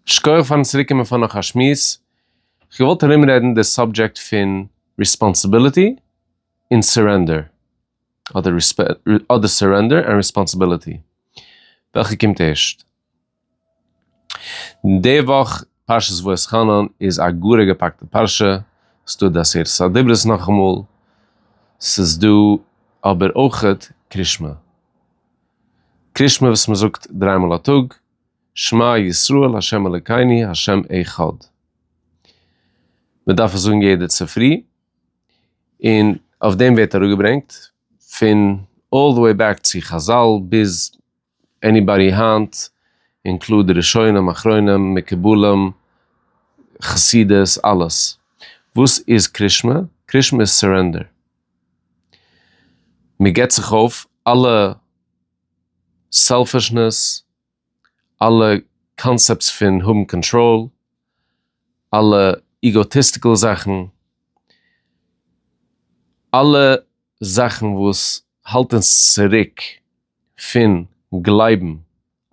שקויעך פארן צוריק קומען פאר נאך א שמועס, כ'געוואלט ארום רעדן די סאבדזשעקט פון ריספאנסיביליטי און סורענדער, אדער סורענדער ענד ריספאנסיביליטי, וועלכע קומט ערשט? די וואך פרשת ואתחנן איז א גאר א געפאקטע פרשה, ס'דא די עשרת הדיברות נאכאמאל, ס'איז דא אבער אויכעט קרישמע. קרישמע וואס מען זאגט דריי מאל א טאג, שמע ישראל ה' אלוקינו ה' אחד. מען דארף עס זאגן יעדע צופרי, און אויף דעם ווערט אראפגעברענגט פון אלל די וועי בעק צו חזל ביז עניבאדי היינט, און קלאר די ראשונים אחרונים מקובלים חסידות אלעס. וואס איז קרישמע? קרישמע איז סורענדער. מען געבט זיך אויף אלע סעלפישנעס, אלע קאנסעפטס פון האבן קאנטראל, אלע איגאטיסטיקל זאכן, אלע זאכן וואס האלט אונז צוריק פון גלייבן.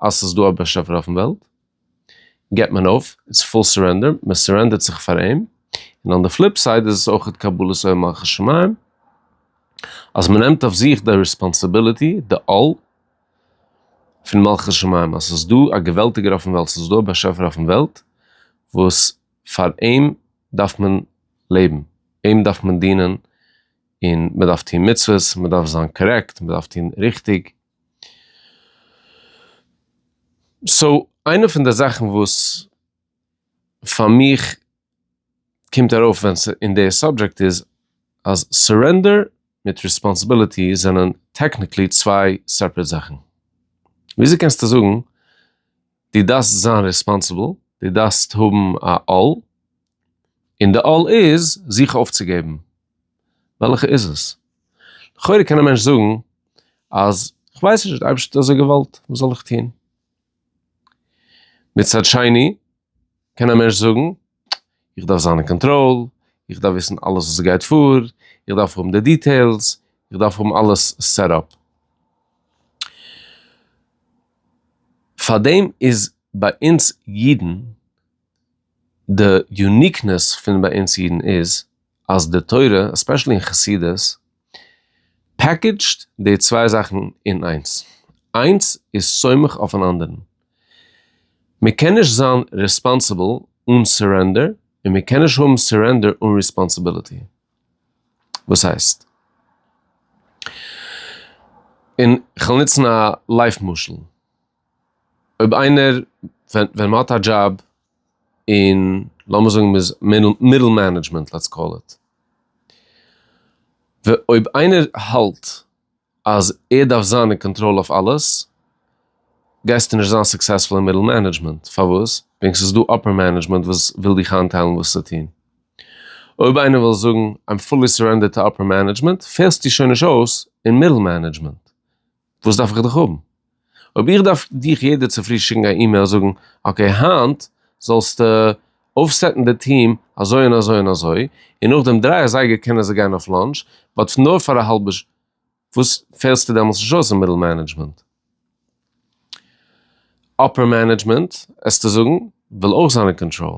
אז ס'איז דא א באשעפער אויפן וועלט, געבט מען אויף, איטס פול סורענדער, מען סורענדערט זיך פאר אים, און אן די פליפ סייד איז עס אויכעט קבלת עול מלכות שמים, אז מען נעמט אויף זיך די ריספאנסיביליטי, די עול, פון מלכות שמים, אז ס'איז דא א געוועלטיגער אויפן וועלט, ס'איז דא א באשעפער אויפן וועלט, וואס פאר אים דארף מען לעבן, אים דארף מען דינען, און מען דארף טון מצוות, מען דארף זיין קארעקט, מען דארף טון ריכטיג. סאו איינע פון די זאכן וואס פאר מיך קומט ארויף ווען ס' אין די סאבדזשעקט איז אז סורענדער מיט ריספאנסעבילעטי זענען טעקניקלי צוויי סעפרעט זאכן. וויאזוי קענסטו זאגן דו דארפסט זיין ריספאנסעבל, דו דארפסט האבן א עול, און די עול איז זיך אויפצוגעבן. וועלכע איז עס? לכאורה קען א מענטש זאגן אז כ'ווייס נישט, די אייבערשטער האט אזוי געוואלט, וואס זאל איך טון? מצד שני קען א מענטש זאגן, איך דארף זיין אין קאנטראל, איך דארף וויסן אלעס וואס גייט פאר, איך דארף האבן די דיטעילס, איך דארף האבן אלעס סעט אפ. פארדעם איז ביי אונז אידן די יוניקנעס פון ביי אונז אידן איז אז די תורה, עספעשעלי אין חסידות, פעקעדזשד די צוויי זאכן אין איינס. איינס איז סומך אויפן אנדערן. מען קען נישט זיין ריספאנסיבל אן סורענדער און מען קען נישט האבן סורענדער אן ריספאנסיביליטי. וואס הייסט? און כ'וועל נוצן א לייף משל. אויב איינער, ווען ווען מ'האט א דזשאב און לאמיר זאגן מ'איז מידל מענעדזשמענט לעטס קאל איט, אויב איינער האלט אז ער דארף זיין אין קאנטראל אויף אלעס, גייסטו נישט זיין סוקסעספול אין מידל מענעדזשמענט, פארוואס? וועגן ס'איז דא אפער מענעדזשמענט וואס וויל דיך איינטיילן וואס צו טון. אויב איינער וויל זאגן, איים פולי סורענדערט טו אפער מענעדזשמענט, פעלסטו שוין נישט אויס אין מידל מענעדזשמענט, וואס דארף איך דיך האבן? אויב איך דארף דיך יעדע צופרי שיקן א אימעיל זאגן אקעי היינט זאלסטו אויפסעטן די טיעם אזוי און אזוי און אזוי, און נאכדעם דריי אזייגער קענען זיי גיין אויף לאנטש, באט נאר פאר א האלבע שעה, וואס פעלסטו דעמאלטס נישט אויס אין מידל מענעדזשמענט? אפער מענעדזשמענט עסטו זאגן וויל אויך זיין אין קאנטראל.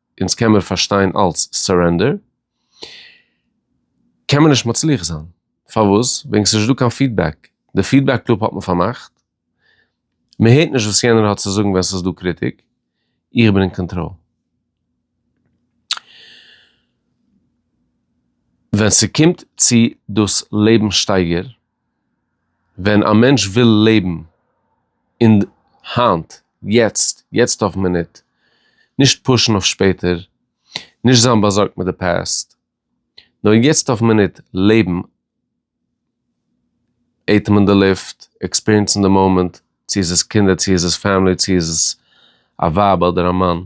אונז קען מיר פארשטיין אלץ סערענדער, קען מען נישט מצליח זיין, פארוואס? וועגן ס'איז נישט דא קיין פידבעק, די פידבעק לופ האט מען פארמאכט, מען הערט נישט וואס יענער האט צו זאגן ווען ס'איז דא קריטיק, איך בין אין קאנטראל. ווען ס'קומט צו דאס לעבנסשטייגער. ווען א מענטש וויל לעבן אין די היינט, יעצט, יעצט אויף מינוט, נישט פושן אויף שפעטער, נישט זיין באזארגט מיט די פאסט, נאר יעצט אויף מינוט לעבן, אטעמען די לופט, עקספיריענסן די מאמענט, צו איז עס קינדער, צו איז עס פעמילי, צו איז עס א ווייב אדער א מאן,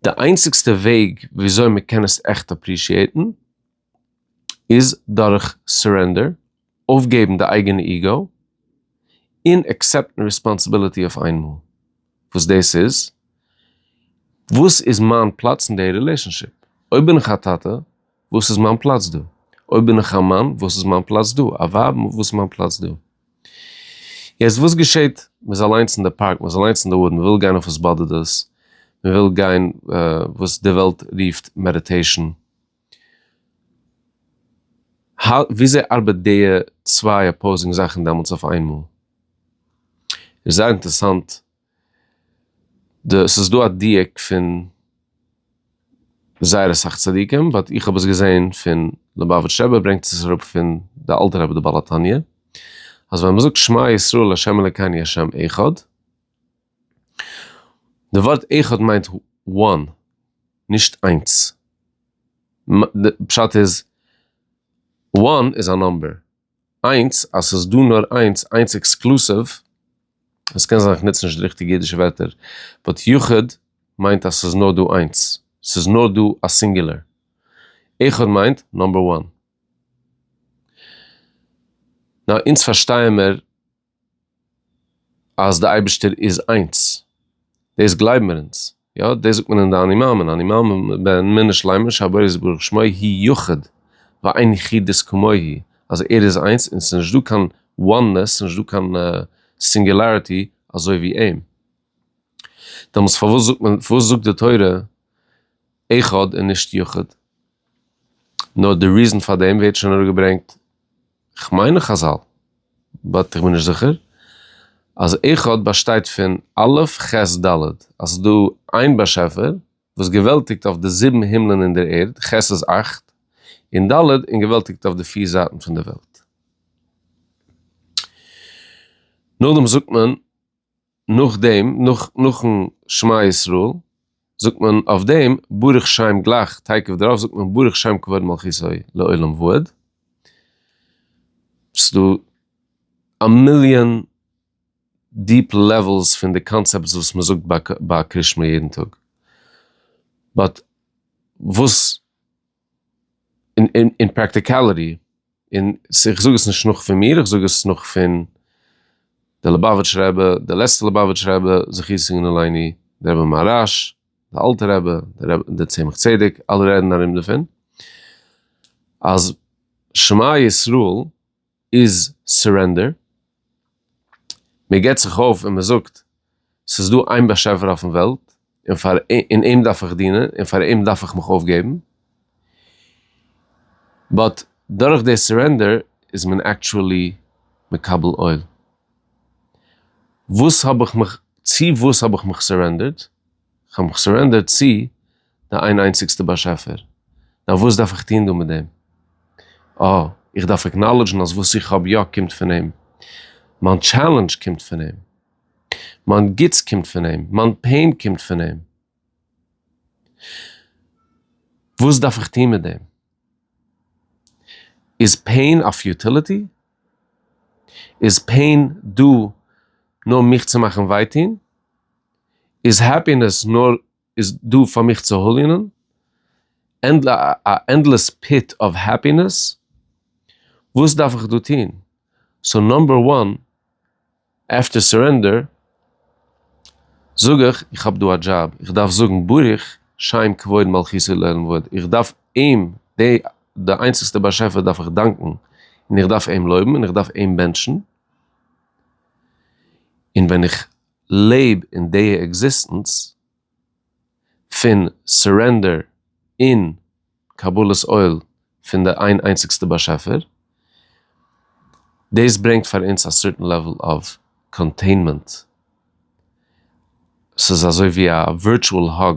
די איינציגסטע וועג וויאזוי מען קען עס עכט אפרישיעטן, איז דורך סורענדער, אויפגעבן די אייגענע איגו, און עקסעפטן ריספאנסעבילעטי אויף איינמאל וואס דאס איז, וואס איז מיין פלאץ אין די רילעשאנשיפ? אויב בין איך א טאטע, וואס איז מיין פלאץ דא? אויב בין איך א מאן, וואס איז מיין פלאץ דא? א ווייב, וואס איז מיין פלאץ דא? יעצט וואס געשעט? מ'איז אליינס אין די פארק, מ'איז אליינס אין די וואודן, מ'וויל גיין אויף וואס באדערט דאס, מ'וויל גיין וואס די וועלט רופט מעדיטעישאן, וויאזוי ארבעט די צוויי אפאוזינג זאכן דעמאלטס אויף איינמאל? איז זייער אינטערסאנט, די ס'איז דא א דיוק פון זייער אסאך צדיקים באט איך האב עס געזעהן פון ליובאוויטש רבי ברענגט עס אראפ פון די אלטע רבי די בעל התניא אז ווען מ'זאגט שמע ישראל ה' אלקינו ה' אחד, די ווארט אחד מיינט וואן, נישט איינס. די פשט איז, וואן איז א נומבער, איינס אז ס'איז דא נאר איינס, איינס עקסקלוסיוו, עס קען זיין איך נוץ נישט די ריכטיגע אידישע ווערטער, באט יחיד מיינט אז ס'איז נאר דא איינס, ס'איז נאר דא א סינגולער. אחד מיינט נומבער וואן. נאר אונז פארשטייען מיר אז די אייבישטער איז איינס, דאס גלייבן מיר אונז, יא דאס זאגט מען אין די אני מאמין, אני מאמין בן מנין שלימה שהבורא יתברך שמו הי' יחיד ואין יחידות כמוהו, אז ער איז איינס און ס'איז נישט דא קיין oneness, ס'איז נישט דא קיין singularity אזוי ווי אים, דעמאלטס פארוואס זאגט מען, פארוואס זאגט די תורה אחד און נישט יחיד? נאר די ריזען פאר דעם ווערט שוין אראפגעברענגט כ'מיין אין חזל באט איך בין נישט זיכער אז אחד באשטייט פון א' ח' ד' אז ס'איז דא איין באשעפער וואס געוועלטיגט אויף די זיבן הימלען און דער ערד, ח' איז אכט, און ד' און געוועלטיגט אויף די פיר זייטן פון דער וועלט. נאכדעם זאגט מען. נאך דעם נאכן שמע ישראל זאגט מען אויף דעם ברוך שם גלייך תיכף דערויף זאגט מען ברוך שם כבוד מלכותו לעולם ועד. ס'דא א מיליאן דיעפ לעוועלס פון די קאנצעפטס וואס מען זאגט ביי קרישמע יעדן טאג באט וואס. אין פראקטיקאליטי, און איך זאג עס נישט נאך פון מיר, איך זאג עס נאך פון די ליובאוויטש רבי, די לעצטע ליובאוויטש רבי זכותו יגן עלינו, די רבי מהרש, די אלטע רבי, די צמח צדק, אלע רעדן ארום דערפון, אז שמע ישראל איז סורענדער, מען געבט זיך אויף און מען זאגט, ס'איז דא איין באשעפער אויפן וועלט און פאר און אים דארף איך דינען און פאר אים דארף איך מיך אויפגעבן, באט דורך די סורענדער איז מען עקטשועלי מקבל עול. וואס האב איך מיך, צו וואס האב איך מיך סורענדערט? כ'האב מיך סורענדערט צו די איין איינציגסטע באשעפער, נאר וואס דארף איך טון דא מיט דעם? אה, איך דארף עקנאלעדזשן אז וואס איך האב יא קומט פון אים, מיין טשעלענדזש קומט פון אים, מיין גוטס קומט פון אים, מיין פעין קומט פון אים. וואס דארף איך טון מיט דעם? איז פעין א פיוטיליטי? איז פעין דא נאר מיך צו מאכן וויי טון? איז העפינעס נאר איז דא פאר מיך צו הוליענען? א ענדלעס פיט אוו העפינעס? וואס דארף איך דא טון? סאו נאמבער וואן, עפטער סורענדער, זאג איך, איך האב דא א דזשאב, איך דארף זאגן ברוך שם כבוד מלכותו לעלם ועד, איך דארף אים, די איינציגסטע באשעפער דארף איך דאנקן, און איך דארף אים לויבן, און איך דארף אים בענטשן, און ווען איך לעב אין די עקזיסטענץ פון סורענדער און קבלת עול פון די איין איינציגסטע באשעפער, דאס ברענגט פאר אונז א סערטען לעוועל אוו קאנטעינמענט, ס'איז אזוי ווי א ווירטואל האג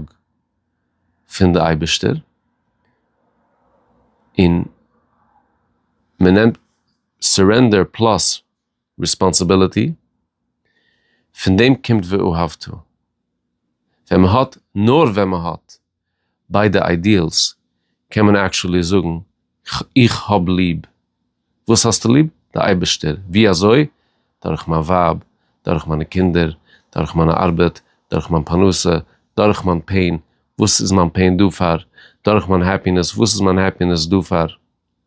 פון די אייבערשטער, און מ'נעמט סורענדער פלאס. ריספאנסעבילעטי, פון דעם קומט ואהבת. ווען מען האט, נאר ווען מען האט, ביידע איידיעלס, קען מען עקטשולי זאגן איך האב ליב. וואס האסטו ליב? די אייבערשטער. ווי אזוי? דורך מיין ווייב, דורך מיינע קינדער, דורך מיינע ארבעט, דורך מיין פרנסה, דורך מיין פעין, וואס איז מיין פעין דא פאר? דורך מיין העפינעס, וואס איז מיין העפינעס דא פאר?